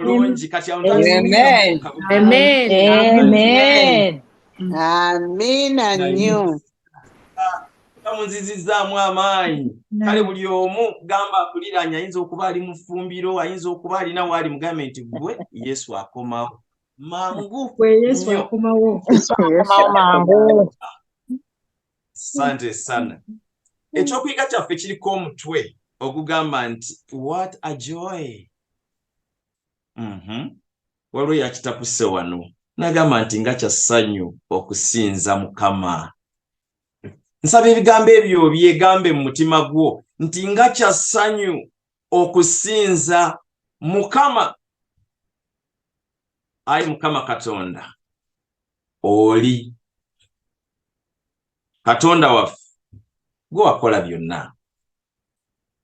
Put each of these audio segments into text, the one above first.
mulungi kati amina nnyo tamunzizizaamu amaanyi kale buli omu gamba akuliranye ayinza okuba ali mufumbiro ayinza okuba alina waali mugambe nti gwe yesu akomawo mangu sante sana ekyokuyiga kyaffe kiriko omutwe ogugamba nti what a joy mhm. waliwo yakitapuse wano nagamba nti nga kya ssanyu okusinza mukama nsaba ebigambo ebyo byegambe mu mutima gwo nti nga kya ssanyu okusinza mukama ayi mukama katonda oli katonda waffe gwe wakola byonna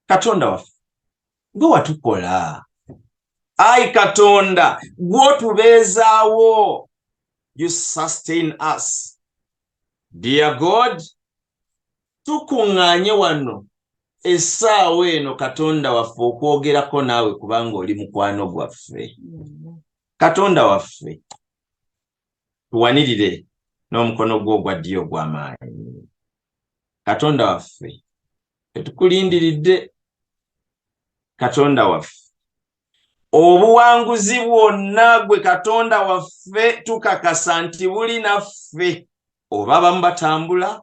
katonda waffe nga watukola ayi katonda gwotubeezaawo you sustain us dear god tukuŋŋaanye wano essaawa eno katonda waffe okwogerako naawe kubanga oli mukwano gwaffe katonda waffe tuwanirire n'omukono gwo ogwa ddyo ogw'amaanyi katonda waffe tetukulindiridde katonda waffe obuwanguzi bwonna gwe katonda waffe tukakasa nti buli naffe oba bamu batambula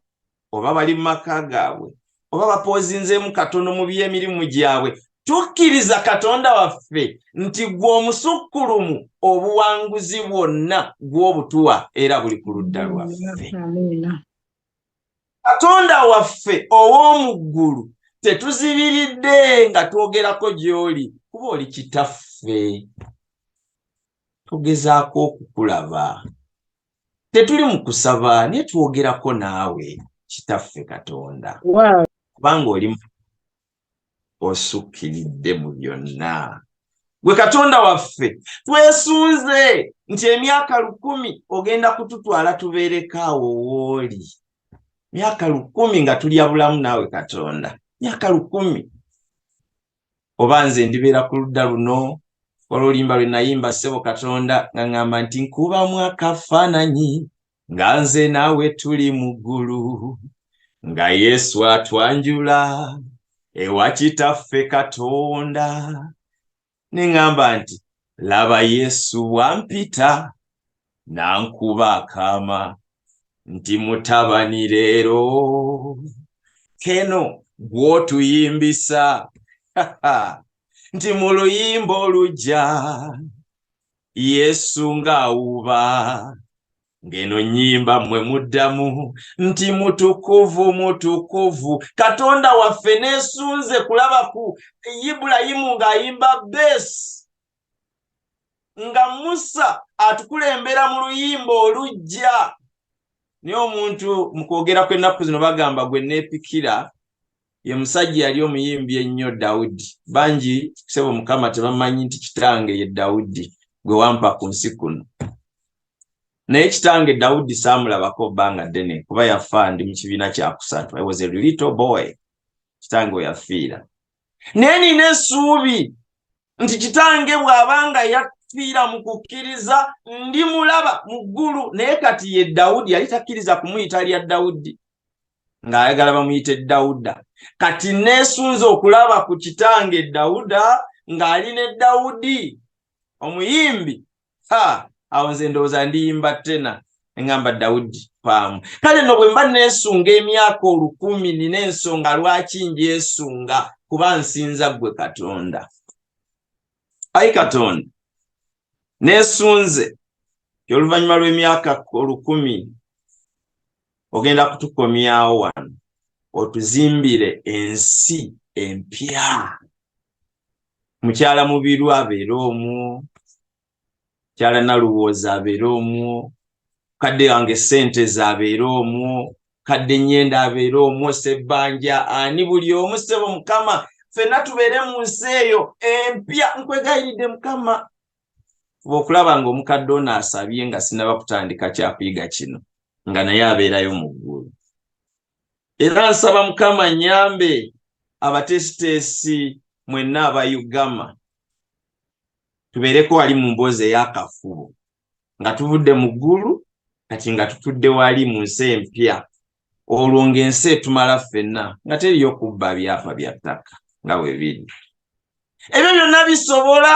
oba bali mu maka gaabwe oba bapoozinzeemu katono mu by'emirimu gyabwe tukkiriza katonda waffe nti gwe omusukkulumu obuwanguzi bwonna gw'obutuwa era buli ku ludda lwaffe katonda waffe ow'omu ggulu tetuzibiridde nga twogerako gy'oli kuba oli kitaffe tugezaako okukulaba tetuli mu kusaba naye twogerako naawe kitaffe katonda kubanga oli osukkiridde mu byonna gwe katonda waffe twesunze nti emyaka lukumi ogenda kututwala tubeereko awo wooli myaka lukumi nga tulya bulamu naawe katonda myaka lukumi oba nze ndibeera ku ludda luno olwolimba lwe nayimba ssebo katonda nga ŋŋamba nti nkubamu akafaananyi nga nze naawe tuli mu ggulu nga yesu atwanjula ewa kitaffe katonda ne ŋŋamba nti laba yesu wampita nankuba akaama nti mutabani leero keno gwotuyimbisa nti mu luyimba olujja yesu ng'awuuba ng'eno nnyimba mmwe muddamu nti mutukuvu mutukuvu katonda waffe neesunze kulabaku ibulayimu ng'ayimba beesi nga musa atukulembera mu luyimba olujja naye omuntu mu kwogera kw'ennaku zino bagamba gwe neepikira ye musajja yali omuyimbi ennyo dawudi bangi kusebo mukama tebamanyi nti kitange ye dawudi gwe wampa ku nsi kuno naye kitange dawudi saamulabako bbanga ddene kuba yafa ndi mu kibiina kyakusatu i was a little boy kitange weyafiira naye nina essuubi nti kitange bw'aba nga yafiira mu kukkiriza ndi mulaba mu ggulu naye kati ye dawudi yali takkiriza kumuyita lya dawudi ng'ayagala bamuyite dawuda kati neesunze okulaba ku kitange dawuda ng'ali ne dawudi omuyimbi ha awo nze ndowooza ndiyimba tena ngamba dawudi paamu kale no bwe mba neesunga emyaka olukumi nina ensonga lwaki njesunga kuba nsinza ggwe katonda ayi katonda neesunze ti oluvannyuma lw'emyaka olukumi ogenda kutukomyawo wano otuzimbire ensi empya mukyala mubiru abeere omu mukyala naluwooza abeere omu kadde wange sente zabeere omu kadde nyenda abeere omu sebbanja ani buli omu sebo mukama fenna tubeere mu nsi eyo empya nkwegayiridde mukama fuba okulaba nga omukadde ono asabye nga sinaba kutandika kyakuyiga kino nga naye abeerayo mu ggulu era nsaba mukama nyambe abateesiteesi mwenna aba ugama tubeereko wali mu mboozi ey'akafubo nga tuvudde mu ggulu kati nga tutudde wali mu nsi empya olwo ng'ensi etumala ffenna nga teriyo kubba byapa bya ttaka nga bwe biri ebyo byonna bisobola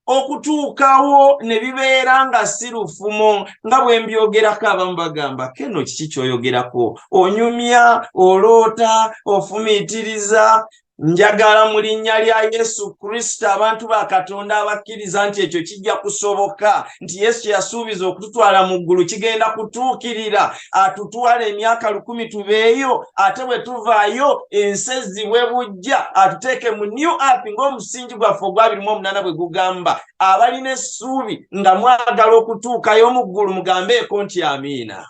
okutuukawo ne bibeera nga si lufumo nga bwe mbyogerako abamu bagamba keno kiki kyoyogerako onyumya oloota ofumiitiriza njagala mu linnya lya yesu kristo abantu ba katonda abakkiriza nti ekyo kijja kusoboka nti yesu yasuubiza okututwala mu ggulu kigenda kutuukirira atutwala emyaka lukumi tubeeyo ate bwe tuvaayo ensi ezzibwe bujja atuteeke mu new ap ng'omusingi gwaffe ogwabirimu omunana bwe gugamba abalina essuubi nga mwagala okutuukayo mu ggulu mugambeeko nti amiina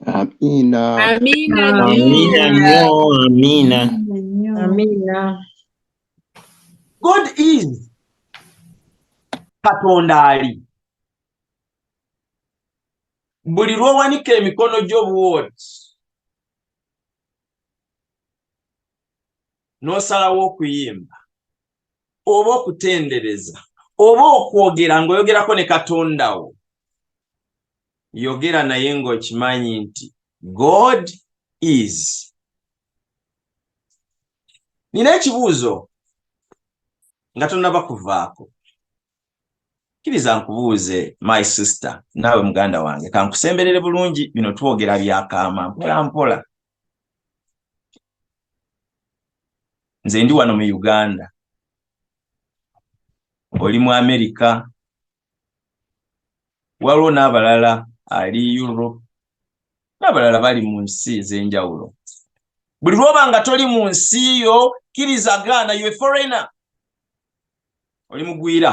Amina. Amina. Amina. Amina. Amina. God is Katonda ali. buli lwowanika emikono gyo bwoti n'osalawo okuyimba oba okutendereza oba okwogera ng'oyogerako ne katonda wo yogera naye ng'okimanyi nti god is nina ekibuuzo nga tonaba kuvaako Kiriza nkubuuze my sister naawe muganda wange kankusemberere bulungi bino twogera byakaama mpola mpola nze ndi wano mu uganda oli mu amerika waliwo n'abalala ali europe n'abalala bali mu nsi ez'enjawulo buli lwoba nga toli mu nsi yo kiriza gaana yo foreigner oli mugwira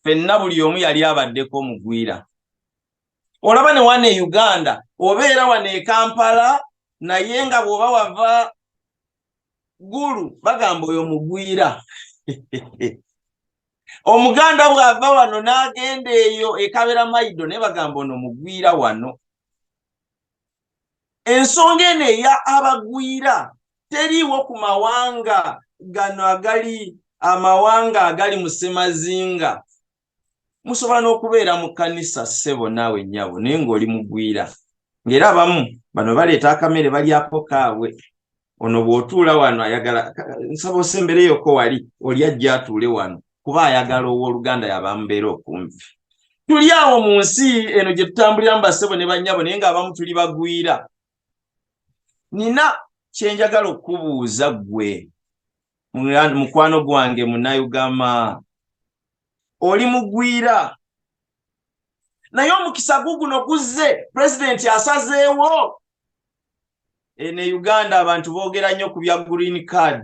fenna buli omu yali abaddeko omugwira olaba ne wana e uganda obeera wano e kampala naye nga bw'oba wava gulu bagamba oyo mugwira omuganda bw'ava wano n'agenda eyo ekabera maido naye bagamba ono mugwira wano ensonga eno eya abagwira teriiwo ku mawanga gano agali amawanga agali mu ssemazinga musobola n'okubeera mu kkanisa ssebo naawe nnyabo naye ng'oli mugwira ng'era abamu bano baleeta akamere balyako kaabwe ono bw'otuula wano ayagala nsaba osembereyoko wali oli ajja atuule wano kuba ayagala ow'oluganda yabamubeera okumpi tuli awo mu nsi eno gye tutambulira mu basebo ne bannyabo naye ng'abamu tuli bagwira nina kye njagala okukubuuza ggwe mukwano gwange munayugama oli mugwira naye omukisa guguno guzze pulezidenti asazeewo eno e uganda abantu boogera nnyo ku bya green card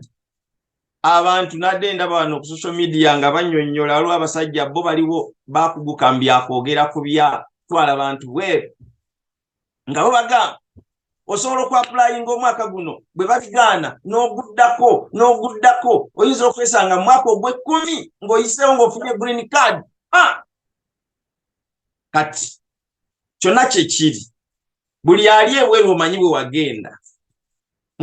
abantu nadde ndaba wano ku social media nga banyonyola waliwo abasajja bo baliwo bakuguka mbyakwogera ku bya twala bantu bweru nga bo bagamba osobola okuapulayinga omwaka guno bwe bakigaana n'oguddako n'oguddako oyinza okwesanga mu mwaka ogw'ekkumi ng'oyiseewo ng'ofunye green card kati kyonna kyekiri buli ali ebweru omanyi bwe wagenda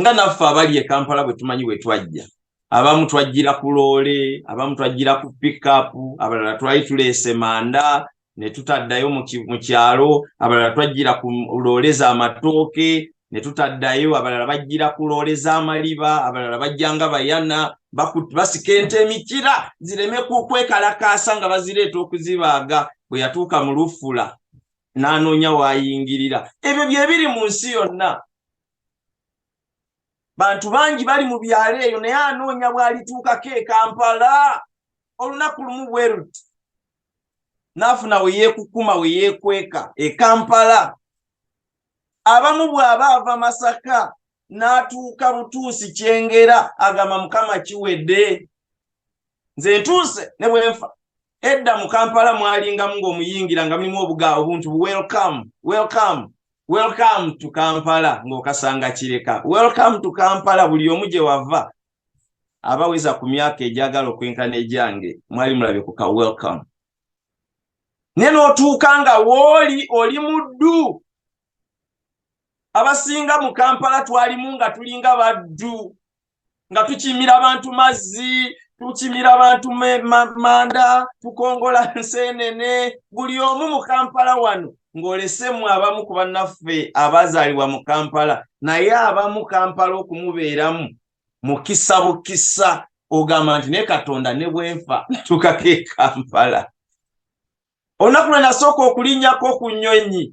nga naffe abali e kampala bwe tumanyi bwe twajja abamu twajjira ku loole abamu twajjira ku pikapu abalala twali tuleese manda ne tutaddayo mu kyalo abalala twajjira ku loole za matooke ne tutaddayo abalala bajjira ku loole z'amaliba abalala bajja nga bayana basika ente emikira zireme kukwekalakaasa nga bazireeta okuzibaaga bwe yatuuka mu lufula n'anoonya waayingirira ebyo bye biri mu nsi yonna bantu bangi bali mu byalo eyo naye anoonya bw'alituukako e kampala olunaku lumu bwe luti n'afuna we yeekukuma we yeekweka e kampala abamu bw'aba ava masaka n'atuuka butuusi kyengera agamba mukama kiwedde nze ntuuse ne bwe nfa edda mu kampala mwalingamu ng'omuyingira nga mulimu obuga obuntu welcome welcome welcome to kampala ng'okasanga kireka welcome to kampala buli omu gye wava abaweza ku myaka egyagala okwenkana egyange mwali mulabye ku ka welcome naye n'otuuka nga wooli oli muddu abasinga mu kampala twalimu nga tulinga baddu nga tukimira abantu mazzi tukimira abantu manda tukongola nsenene buli omu mu kampala wano ng'olesemu abamu ku bannaffe abazaalibwa mu kampala naye abamu kampala okumubeeramu mukisa bukisa ogamba nti ne katonda ne bwenfa ntuukako e kampala olunaku lwe nasooka okulinnyako ku nnyonyi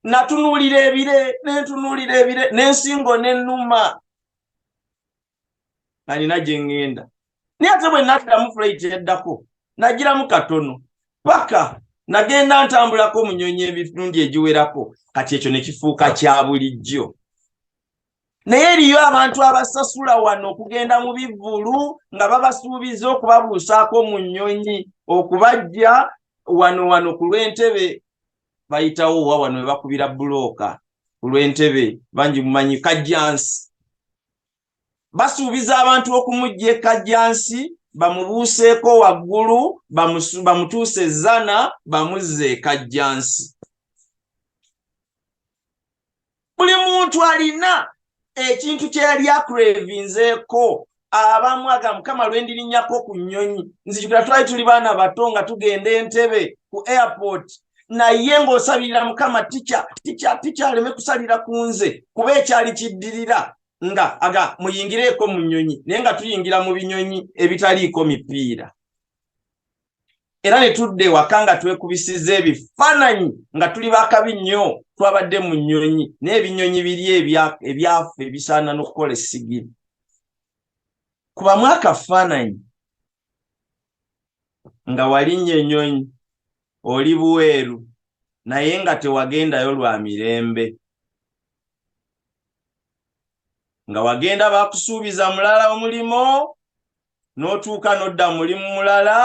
natunuulira ebire nentunuulira ebire n'ensingo n'ennuma nga nina gye ŋŋenda naye ate bwe naddamu fulaiti eddako nagiramu katono paka nagenda ntambulako mu nnyonyi ebitundi egiwerako kati ekyo ne kifuuka kya bulijjo naye eriyo abantu abasasula wano okugenda mu bivvulu nga babasuubiza okubabuusaako mu nnyonyi okubajja wano wano ku lw'entebe bayitawo wa wano we bakubira bulooka ku lw'entebe bangi mumanyi kajjansi basuubiza abantu okumujja ekajjansi bamubuuseeko waggulu bamutuuse ezzana bamuzze ekajjansi buli muntu alina ekintu kyeyali akurevinzeeko abamu aga mukama lwendirinyako ku nnyonyi nzijukira twali tuli baana bato nga tugenda entebe ku airport naye ng'osabirira mukama tica tica tica aleme kusalira ku nze kuba ekyali kiddirira nga aga muyingireeko mu nnyonyi naye nga tuyingira mu binyonyi ebitaliiko mipiira era ne tudda ewaka nga twekubisiza ebifaananyi nga tuli bakabi nnyo twabadde mu nnyonyi n'ebinyonyi biri ebyafu ebisaana n'okukola essigiri kubamu akafaananyi nga walinnya ennyonyi oli buweeru naye nga tewagendayo lwa mirembe nga wagenda bakusuubiza mulala omulimu n'otuuka n'odda mulimu mulala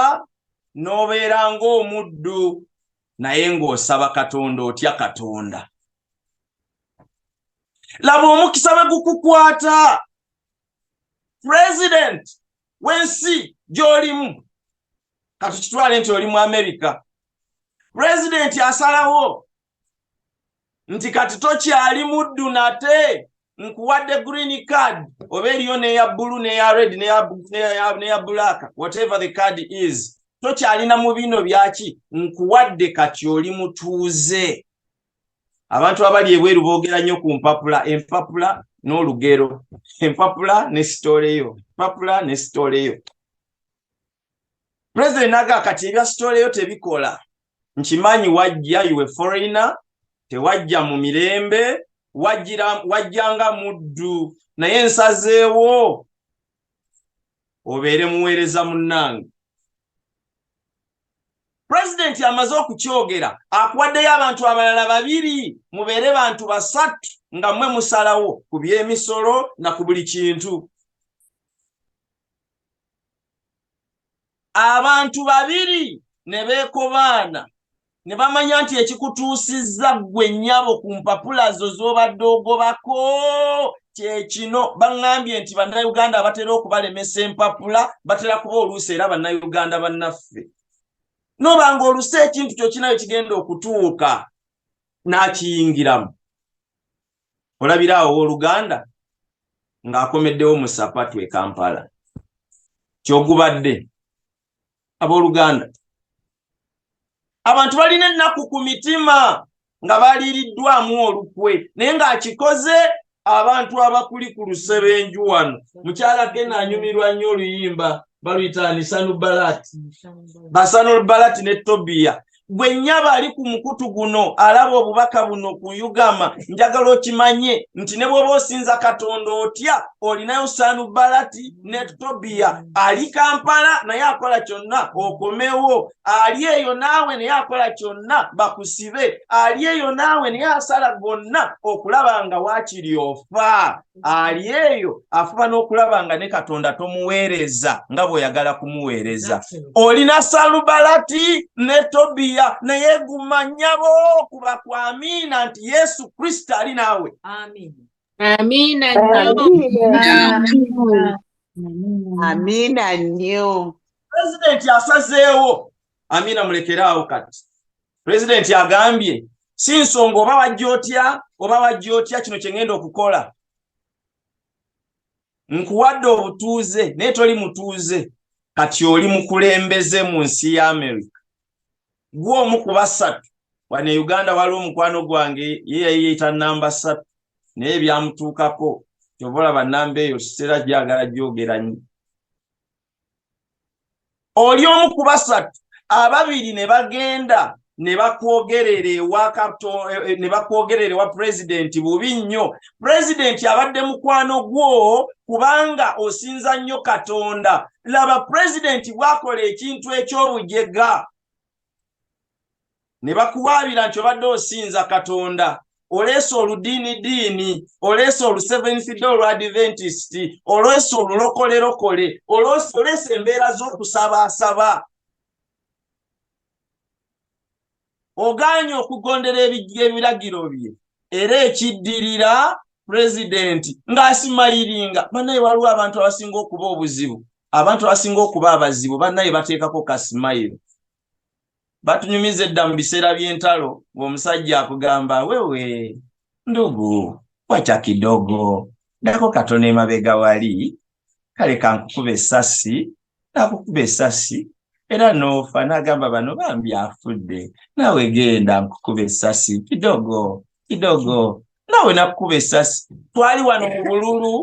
n'obeera ng'omuddu naye ng'osaba katonda otya katonda laba omukisa bwe gukukwata pulezidenti w'ensi gy'olimu katukitwale nti oli mu amerika pulezidenti asalawo nti kati tokyali muddu nate nkuwadde green card oba eriyo neya bulu neya red neya black whatever the card is tokyalina mu bino byaki nkuwadde kati oli mutuuze abantu abali ebweru boogera nnyo ku mpapula empapula n'olugero empapula ne sitoleyo empapula ne sitoleyo president naga kati ebya story yo tebikola nkimanyi wajja iwe foreigner tewajja mu mirembe wajjira wajjanga muddu naye nsazeewo obeere muweereza munnange pulezidenti amaze okukyogera akuwaddeyo abantu abalala babiri mubeere bantu basatu nga mmwe musalawo ku by'emisolo na ku buli kintu abantu babiri ne beekobaana ne bamanya nti ekikutuusizza ggwe nnyabo ku mpapula zo z'obadde ogobako kyekino baŋŋambye nti bannayuganda abatera okubalemesa empapula batera kuba oluusi era bannayuganda bannaffe noba nga olusi ekintu kyokinayo kigenda okutuuka n'akiyingiramu olabira awo owoluganda ng'akomeddewo mu sapatu e kampala kyogubadde abooluganda abantu balina ennaku ku mitima nga baliiriddwamu olukwe naye ng'akikoze abantu abakuli ku lusebenju wano mukyala kena anyumirwa nnyo oluyimba baluyita nisanu balati basanu balati ne tobiya gwe nyaba ali ku mukutu guno alaba obubaka buno kuyugama njagala okimanye nti ne bwoba osinza katonda otya olinayo sanubalati ne tobiya ali kampala naye akola kyonna okomewo ali eyo naawe naye akola kyonna bakusibe ali eyo naawe naye asala gonna okulaba nga wakiri ofa ali eyo afuba n'okulaba nga ne katonda tomuweereza nga bw'oyagala kumuweereza olina salubalati ne tobiya naye guma nyabo kuba kwamiina nti yesu kristo ali naawe amiina nnyo pulezidenti asazeewo Amina mulekere awo kati. President agambye si nsonga oba wajja otya oba wajja otya kino kye ngenda okukola. Nkuwadde obutuuze naye toli mutuuze kati oli mukulembeze mu nsi ya America. Gwe omu ku basatu wano e Uganda waliwo mukwano gwange ye yayiyita namba satu naye byamutuukako kyova olaba namba eyo sitera gyagala gyogera nnyo. oli omu ku basatu ababiri ne bagenda ne bakwogerera ewa kato eh, eh, ne bakwogerera ewa pulezidenti bubi nnyo pulezidenti abadde mukwano gwo kubanga osinza nnyo katonda laba pulezidenti bwakola ekintu eky'obujega ne bakuwaabira nti obadde osinza katonda oleese oludiini diini oleese olu seventh day olwa adventist oleese olulokolerokole oleese embeera z'okusabaasaba ogaanye okugondera ebiragiro bye era ekiddirira pulezidenti ng'asimayiringa banaye waliwo abantu abasinga okuba obuzibu abantu abasinga okuba abazibu banaye bateekako kasimayiro batunyumiza edda mu biseera by'entalo ng'omusajja akugamba wewe ndugu wacha kidogo dako katono emabega wali kale kankukuba essasi nakukuba essasi era noofa n'agamba bano bambi afudde naawe genda nkukuba essasi kidogo kidogo naawe nakukuba essasi twali wano mu bululu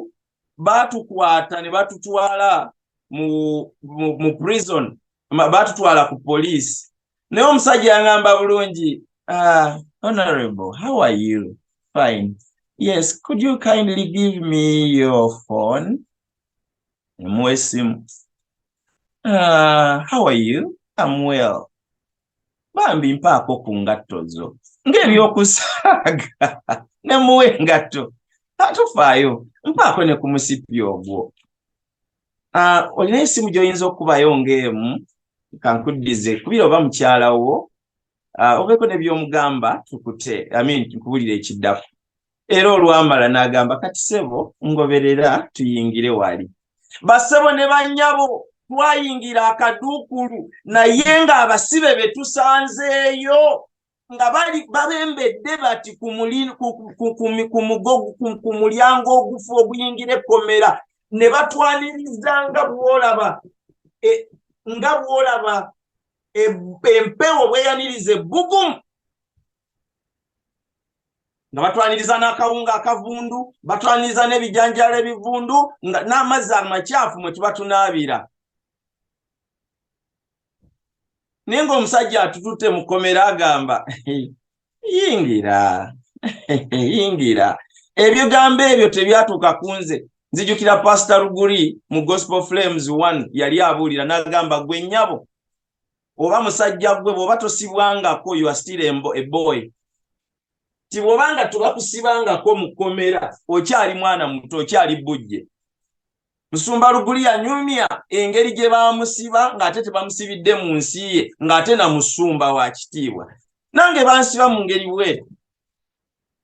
baatukwata ne batutwala mu, mu, mu prison baatutwala ku poliisi naye omusajja yangamba bulungi uh, honorable how are you fine yes could you kindly give me your phone emuwa esimu uh, ah, how are you am well bambi mpaako ku ngatto zo ng'ebyokusaaga ne muwa engatto tatufaayo mpaako ne ku musipi ogwo ah, olina esimu gy'oyinza okubayo ng'emu kankuddize kubira oba mukyala wo ah, obeeko ne by'omugamba tukute amin nkubulira ekiddako era olwamala n'agamba kati sebo ngoberera tuyingire wali basebo ne bannyabo twayingira akaduukulu naye ng'abasibe be tusanzeeyo nga bali babembedde bati ku mulyango ogufu oguyingira ekkomera ne batwaniriza nga bwolaba e, nga bwolaba e, empewo bweyaniriza ebbugumu nga batwaniriza n'akawunga akavundu batwaniriza n'ebijanjalo ebivundu nga n'amazzi amakyafu mwe tuba tunaabira naye ng'omusajja atututte mu kkomera agamba yingira yingira ebigambo ebyo tebyatuuka ku nze nzijukira pasita luguli mu gospel flames one yali abuulira n'agamba gwe nnyabo oba musajja gwe bwoba tosibwangako you are still a boy ti bwoba nga tubakusibangako mu kkomera okyali mwana muto okyali bujje musumba luguli yanyumya engeri gye bamusiba ng'ate tebamusibidde mu nsi ye ng'ate na musumba wa kitiibwa nange bansiba mu ngeri bweru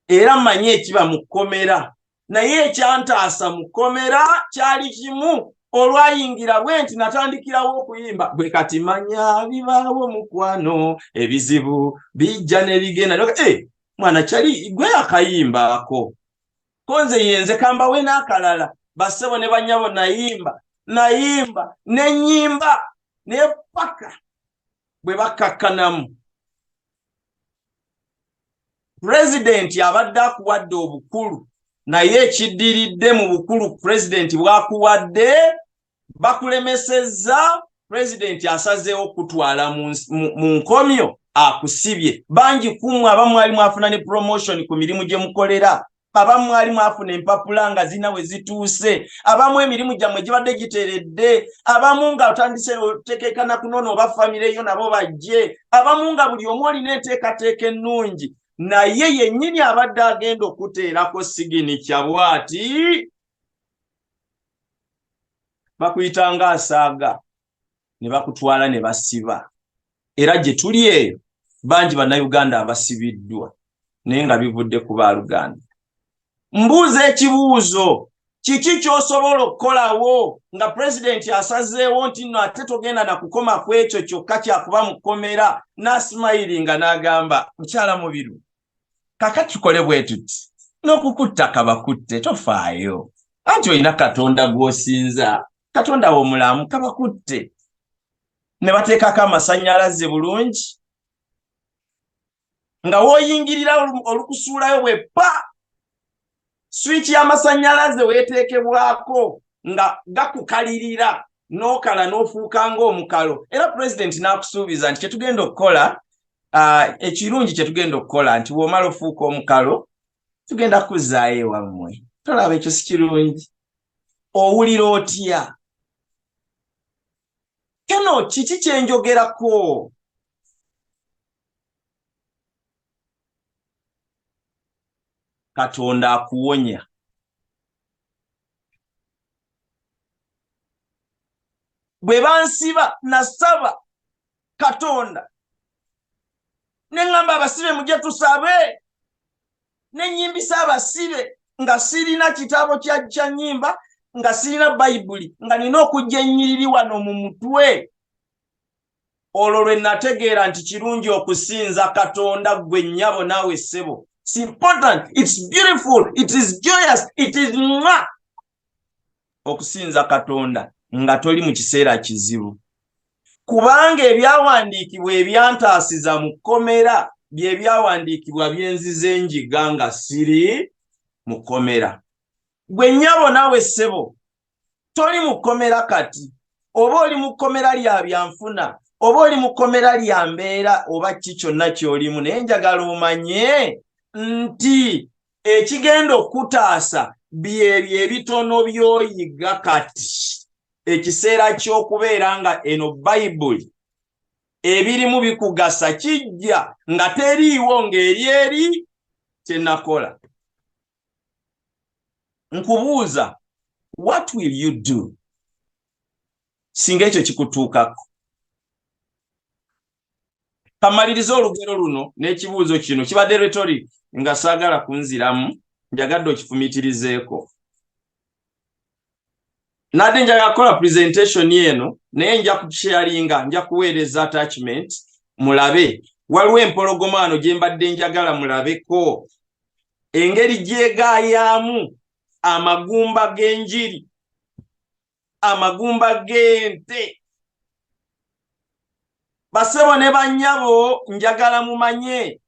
era mmanyi ekiba mu kkomera naye ekyantaasa mu kkomera kyali kimu olwayingira bwe nti natandikirawo okuyimba bwe kati manya bibaawo mukwano ebizibu bijja nebigenda e eh, mwana kyali gwe akayimbaako ko nze yenze kambawe n'akalala bassebo ne banyabo nayimba nayimba nenyimba nepaka bwe bakkakkanamu pulezidenti abadde akuwadde obukulu naye ekiddiridde mu bukulu pulezidenti bwakuwadde bakulemesezza pulezidenti asazeewo okutwala mu nkomyo akusibye bangi kumwe aba mwali mwafuna ne promotion ku mirimu gye mukolera abamu mwali mwafuna empapula nga zirina we zituuse abamu emirimu gyammwe gibadde giteredde abamu nga otandise otekeekana kunoona oba famireyo nabo bajje abamu nga buli omu olina enteekateeka ennungi naye yennyini abadde agenda okuteerako sigini kyabwati bakuyita nga asaaga ne bakutwala ne basiba era gye tuli eyo bangi bannayuganda abasibiddwa naye nga bivudde ku baaluganda mbuuza ekibuuzo kiki kyosobola okukolawo nga pulezidenti asazeewo nti no ate togenda nakukoma ku ekyo kyokka kyakuba mu kkomera n'asimayiringa n'agamba mukyala mubiru kaka tukole bwetuti n'okukutta kabakutte tofaayo anti olina katonda gw'osinza katonda w'omulamu kabakutte ne bateekako amasannyalaze bulungi nga w'oyingirira olukusuulayo bwe pa swiki y'amasannyalaze weeteekebwako nga gakukalirira n'okala n'ofuuka ng'omukalo era pulezidenti n'akusuubiza nti kyetugenda okukola uh, ekirungi kyetugenda okukola nti w'omala ofuuka omukalo tugenda kuzzaayo ewammwe tolaba ekyo si kirungi owulira otya kino kiki kyenjogerako katonda akuwonya bwe bansiba nasaba katonda neŋamba abasibe muje tusabe nenyimbisa abasibe nga sirina kitabo kyakya nyimba nga sirina bayibuli nga nina okujja enyiriri wano mu mutwe olwo lwe nategeera nti kirungi okusinza katonda gwe nnyabo naawe ssebo its important its beautiful it is joyous it is mwa okusinza katonda nga toli mu kiseera kizibu kubanga ebyawandiikibwa ebyantaasiza mu kkomera bye byawandiikibwa byenzize njiga nga siri mu kkomera gwe nnyabo naawe ssebo toli mu kkomera kati oba oli mu kkomera lya byanfuna oba oli mu kkomera lya mbeera oba ki kyonna ky'olimu naye njagala omanye nti ekigenda okukutaasa byebyo ebitono by'oyiga kati ekiseera ky'okubeera nga eno bayibuli ebirimu bikugasa kijja nga teriiwo ng'eri eri kye nakola nkubuuza what will you do singa ekyo kikutuukako kamaliriza olugero luno n'ekibuuzo kino kibadde rhetoric nga saagala kunziramu njagadde okifumitirizeeko nadde njaga kukola presentation eno naye nja kusharinga nja kuweereza attachment mulabe waliwo empologomaano gye mbadde njagala mulabeko engeri gyegayaamu amagumba g'enjiri amagumba g'ente basebo ne bannyabo njagala mumanye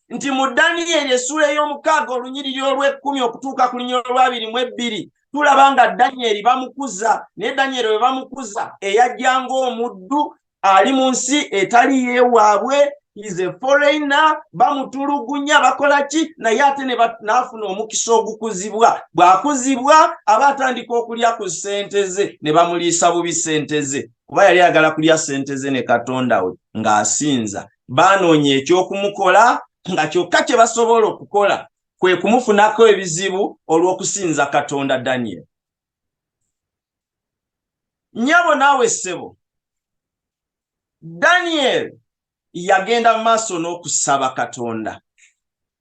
nti mu daniyeri essuula ey'omukaaga olunyiriri olw'ekkumi okutuuka ku linya olwabiri mu ebbiri tulaba nga daniyeri bamukuza naye daniyeri bwe bamukuza eyajja ng'omuddu ali mu nsi etali yewaabwe is a foreigner bamutulugunya bakola ki naye ate naafuna omukisa ogukuzibwa bw'akuzibwa aba atandika okulya ku ssente ze ne bamuliisa bubi ssente ze kuba yali agala kulya ssente ze ne katonda we ng'asinza baanoonya eky'okumukola nga kyokka kye basobola okukola kwe kumufunako ebizibu olw'okusinza katonda daniel nyabo naawe ssebo daniel yagenda maaso n'okusaba katonda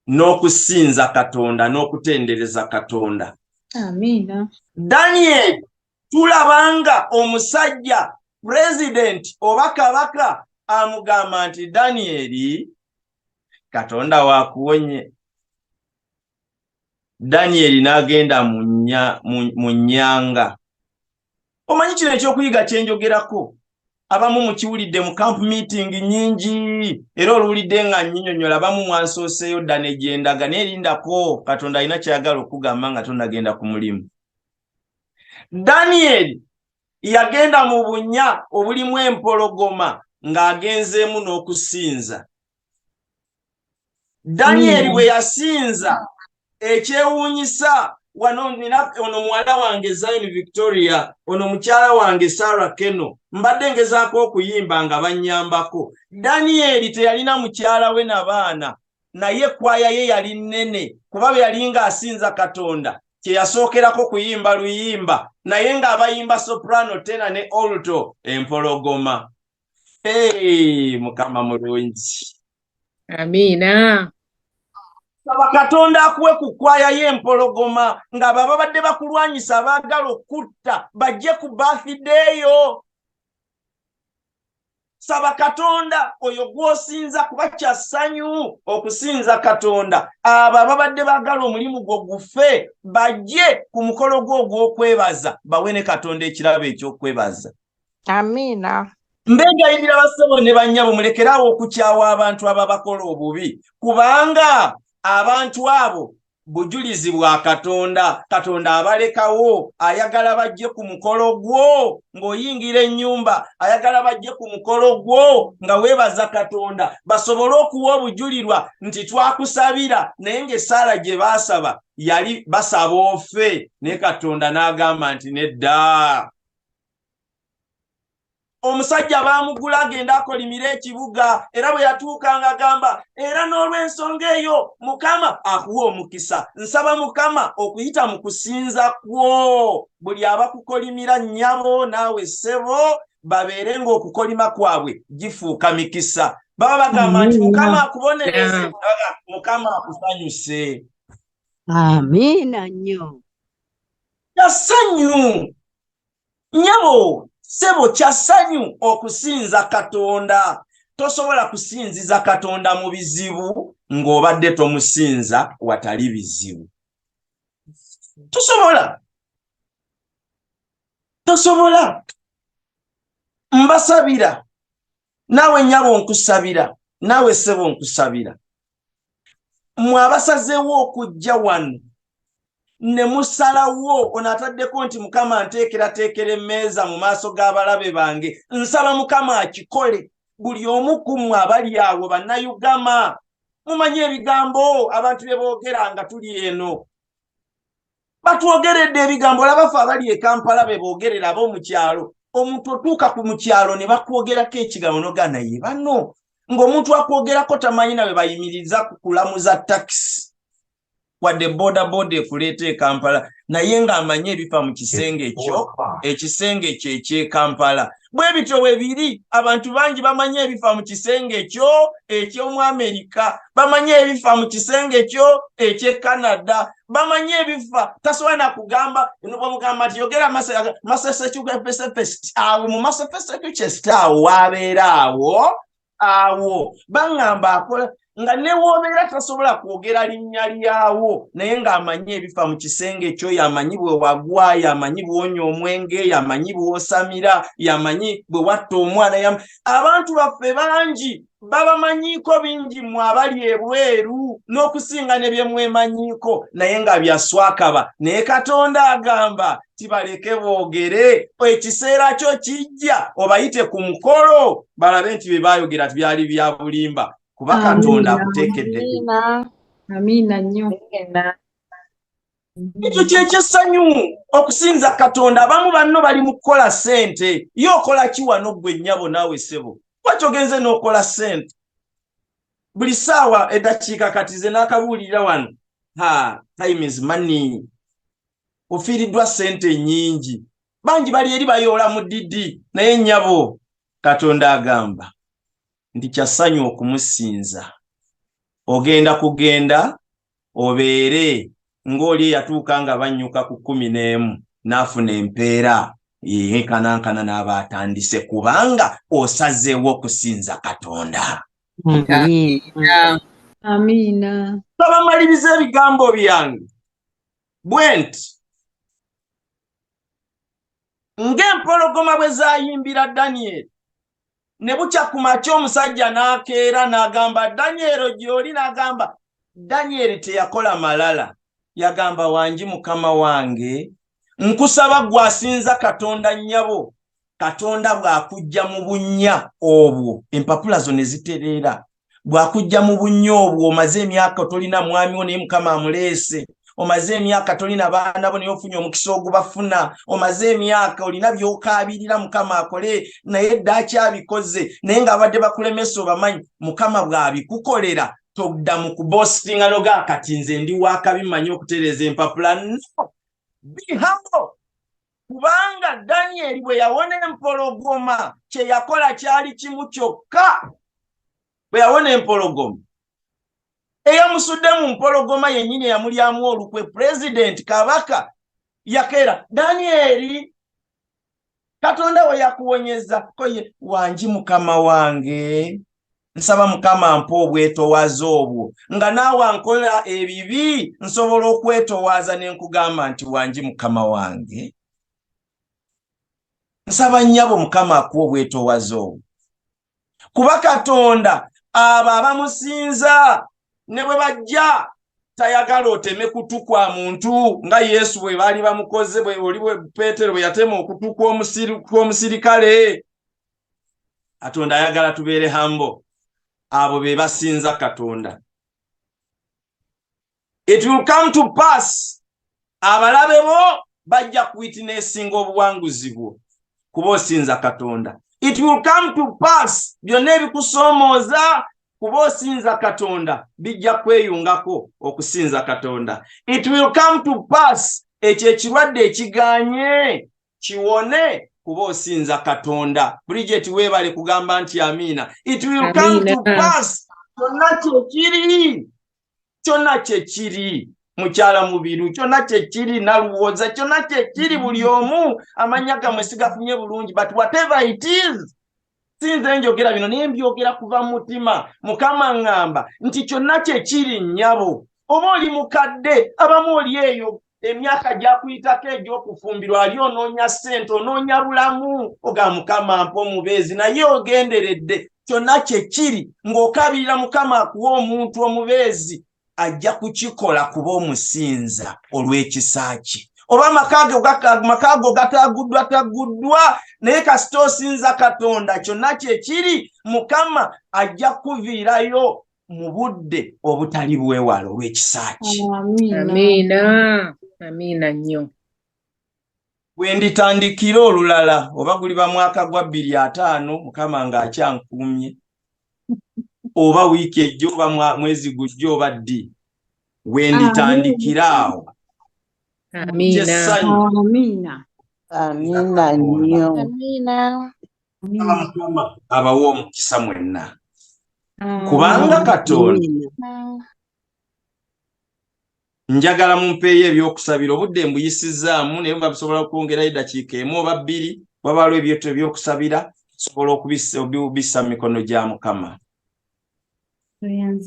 n'okusinza katonda n'okutendereza katonda amiina daniel tulabanga omusajja pulezidenti oba kabaka amugamba nti danieli katonda wakuwonye danyeri n'agenda mu nnyanga omanyi kino ekyokuyiga kyenjogerako abamu mukiwulidde mu camp meeting nyingi era oluwulidde nga nyinyonyola abamu mwansooseeyo dda negyendaga naye erindako katonda alina kyayagala okugamba nga tonagenda ku mulimu danyeri yagenda mu bunya obulimu empologoma ng'agenzeemu n'okusinza danyeri bwe yasinza ekyewuunyisa wano nina ono muwala wange zayini victoria ono mukyala wange sarah keno mbadde ngezaako okuyimba nga bannyambako danyeri teyalina mukyala we na baana naye ekwaya ye yali nnene kuba bwe yali ng'asinza katonda kye yasookerako kuyimba luyimba naye ng'abayimba soprano tena ne olto empologoma Hey, mukama mulungi amiina saba katonda akuwe ku kwaya y'empologoma nga bababadde bakulwanyisa abaagala okutta bajje ku bafideeyo saba katonda oyo gw'osinza kuba kya ssanyu okusinza katonda abo ababadde baagala omulimu gwo gufe bajje ku mukolo gwo ogw'okwebaza bawe ne katonda ekirabo eky'okwebaza amiina mbe ngayinira bassebo ne bannyabo mulekeraawo okukyawa abantu ababakola obubi kubanga abantu abo bujulizi bwa katonda katonda abalekawo ayagala bajje ku mukolo gwo ng'oyingira ennyumba ayagala bajje ku mukolo gwo nga weebaza katonda basobole okuwa obujulirwa nti twakusabira naye ng'essaala gye baasaba yali basaba ofe naye katonda n'agamba nti nedda omusajja baamugula agenda akolimira ekibuga era bwe yatuuka nga agamba era n'olw'ensonga eyo mukama akuwa omukisa nsaba mukama okuyita mu kusinza kwo buli abakukolimira nnyabo naawe ssebo babeere ng'okukolima kwabwe gifuuka mikisa baba bagamba nti mukama akubonereze mukama akusanyuse amiina nnyo kyasanyu nyabo sebo kyasanyu okusinza katonda tosobola kusinziza katonda mu bizibu ng'obadde tomusinza watali bizibu tosobola tosobola mbasabira naawe nyabo nkusabira naawe sebo nkusabira mwe abasazeewo okujja wano ne musalawo ono ataddeko nti mukama nteekerateekera emmeeza mu maaso g'abalabe bange nsaba mukama akikole buli omu ku mmwe abali awo bannayugama mumanyi ebigambo abantu bye boogera nga tuli eno batwogeredde ebigambo olaba fe abali ekampala bebogerera aba omukyalo omuntu otuuka ku mukyalo ne bakwogerako ekigambo nogana ye bano ng'omuntu akwogerako tamanyi nawe bayimiriza ku kulamuza takisi wadde bodaboda ekuleeta ekampala naye ng'amanyi ebifa mu kisenge ekyo ekisenge ekyo ekyekampala bwe bityo bwe biri abantu bangi bamanyi ebifa mu kisenge kyo eky'omu amerika bamanyi ebifa mu kisenge kyo eky'e canada bamanyi ebifa tasobola nakugamba bamugamba nti yogera masesecupesepest awo mu masepesecukest awo waabeera awo awo baŋŋamba akola nga newoobeera tasobola kwogera linnya lyawo naye ng'amanyi ebifa mu kisenge kyo yamanyi bwe wagwa yamanyi bwonya omwenge yamanyi bwosamira yamanyi bwe watta omwana yam abantu baffe bangi babamanyiiko bingi mwe abali ebweru n'okusinga ne bye mwemanyiiko naye nga byaswakaba naye katonda agamba kibaleke boogere ekiseera kyo kijja obayite ku mukolo balabe nti bye baayogera byali bya bulimba kuba katonda akuteekedde amiina nnyo ekyo kyekyesanyu okusinza katonda abamu banno bali mu kukola ssente ye okola ki wano ggwe nnyabo naawe ssebo kwaki ogenze n'okola ssente buli ssaawa eddakiika kati ze n'akabuulirira wano ha time is money ofiiriddwa ssente nnyingi bangi bali eri bayoola mu didi naye nnyabo katonda agamba nti kyassanyu okumusinza ogenda kugenda obeere ng'oli eyatuuka nga bannyuka ku kkumi n'emu n'afuna empeera yenkanankana n'aba atandise kubanga osazeewo okusinza katonda amiina babamaliriza ebigambo byange bwe nti ng'empologoma bwe zayimbira danyeri ne bukya ku makya omusajja n'akeera n'agamba danyeri gy'oli n'agamba danyeri teyakola malala yagamba wangi mukama wange nkusaba gwasinza katonda nnyabo katonda bw'akujja mu bunnya obwo empapula zo ne zitereera bw'akujja mu bunnya obwo omaze emyaka otolina mwami wo naye mukama amuleese omaze emyaka tolina baana bo naye ofunye omukisa ogubafuna omaze emyaka olina byokaabirira mukama akole naye dda akyabikoze naye ng'abadde bakulemesa obamanyi mukama bw'abikukolera todda mu kubositinga noga kati nze ndi wakabi manyi okutereeza empapula no bihamo kubanga danyeri bwe yawona empologoma kye yakola kyali kimu kyokka bwe yawona empologoma eyamusudde mu mpologoma yennyini eyamulyamu olukwe pulezidenti kabaka yakeera danyeri katonda we yakuwonyeza koye wangi mukama wange nsaba mukama mpa obwetowaaza obwo nga naawe ankola ebibi nsobola okwetowaaza ne nkugamba nti wangi mukama wange nsaba nnyabo mukama akuwa obwetowaaza obwo kuba katonda abo abamusinza ne bwe bajja tayagala oteme kutu kwa muntu nga yesu bwe baali bamukoze oli peetero bwe yatema okutu kw'omusirikale katonda ayagala tubeere hambo abo be basinza katonda it will come to pass abalabe bo bajja kuwitinesinga obuwanguzi bwo kuba osinza katonda it will come to pass byonna ebikusoomooza kuba osinza katonda bijja kweyungako okusinza katonda it will come to pass ekyo ekirwadde ekiganye kiwone kuba osinza katonda bridget webale kugamba nti amiina it will come to pass kyonna kyekiri kyonna kyekiri mukyala mubiru kyonna kyekiri naluwooza kyonna kyekiri buli omu amanya gamwe sigafunye bulungi but whatever it is sinze njogera bino naye mbyogera kuva mutima mukama ŋŋamba nti kyonna kyekiri nnyabo oba oli mukadde abamu oli eyo emyaka gyakuyitako egy'okufumbirwa ali onoonya ssente onoonya bulamu oga mukama mpa omubeezi naye ogenderedde kyonna kyekiri ng'okabirira mukama akuwa omuntu omubeezi ajja kukikola kuba omusinza olw'ekisa kye oba amaka go gataguddwa taguddwa naye kasita osinza katonda kyonna kyekiri mukama ajja kukuviirayo mu budde obutali bwewala olw'ekisa kye amiina amiina nnyo Bwenditandikira olulala oba guliba mwaka gwa bbiri ataano mukama nga akyankuumye oba wiiki ejjo oba mwezi gujjo oba ddi wenditandikira awo abawa omukisa mwenna kubanga katonda njagala mumpeeyo ebyokusabira obudde mbuyisizzaamu naye muba bisobola okwongerayo eddakiika emu oba bbiri wabaalo ebyoto ebyokusabira sobola okubissa mu mikono gya mukama